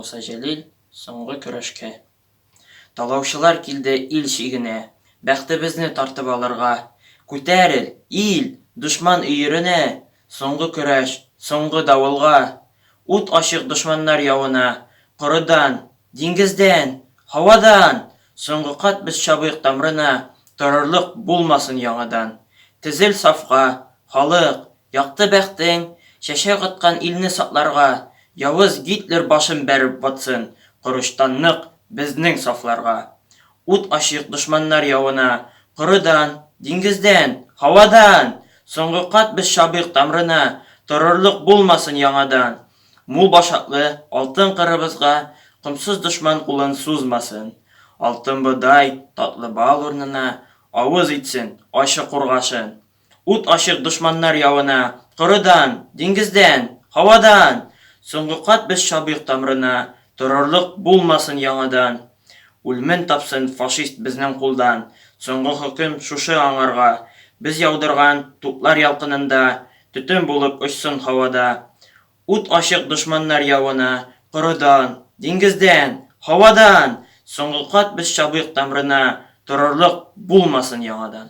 Муса Җәлил соңгы көрәшкә. Талаучылар килде ил чигенә, Бәхтебезне тартып алырга. Күтәрел, ил, дошман өеренә, Соңгы көрәш, соңгы давылга! Ут ачык дошманнар явына! Корыдан, диңгездән, һавадан! Соңгы кат без чабыйк тамрына, Торырлык булмасын яңадан. Тезел сафка, халык, якты бәхтең, Чәчәк аткан илне сакларга! Явыз Гитлер башын бәреп ватсын Корычтан нык безнең сафларга! Ут ачыйк дошманнар явына! Корыдан, диңгездән, һавадан! Соңгы кат без чабыйк тамрына, Торырлык булмасын яңадан. Мул башаклы алтын кырыбызга Комсыз дошман кулын сузмасын. Алтын бодай, татлы бал урнына Авыз итсен ачы кургашын. Ут ачык дошманнар явына. Корыдан, диңгездән, һавадан! Соңгы кат без чабыйк тамрына, Торырлык булмасын яңадан. Үлмен тапсын фашист безнең кулдан, Соңгы хөкем шушы аңарга. Без яудырган туплар ялкынында, Төтен булып очсын һавада. Ут ачык дошманнар явына, Корыдан, диңгездән, һавадан! Соңгы кат без чабыйк тамрына, Торырлык булмасын яңадан.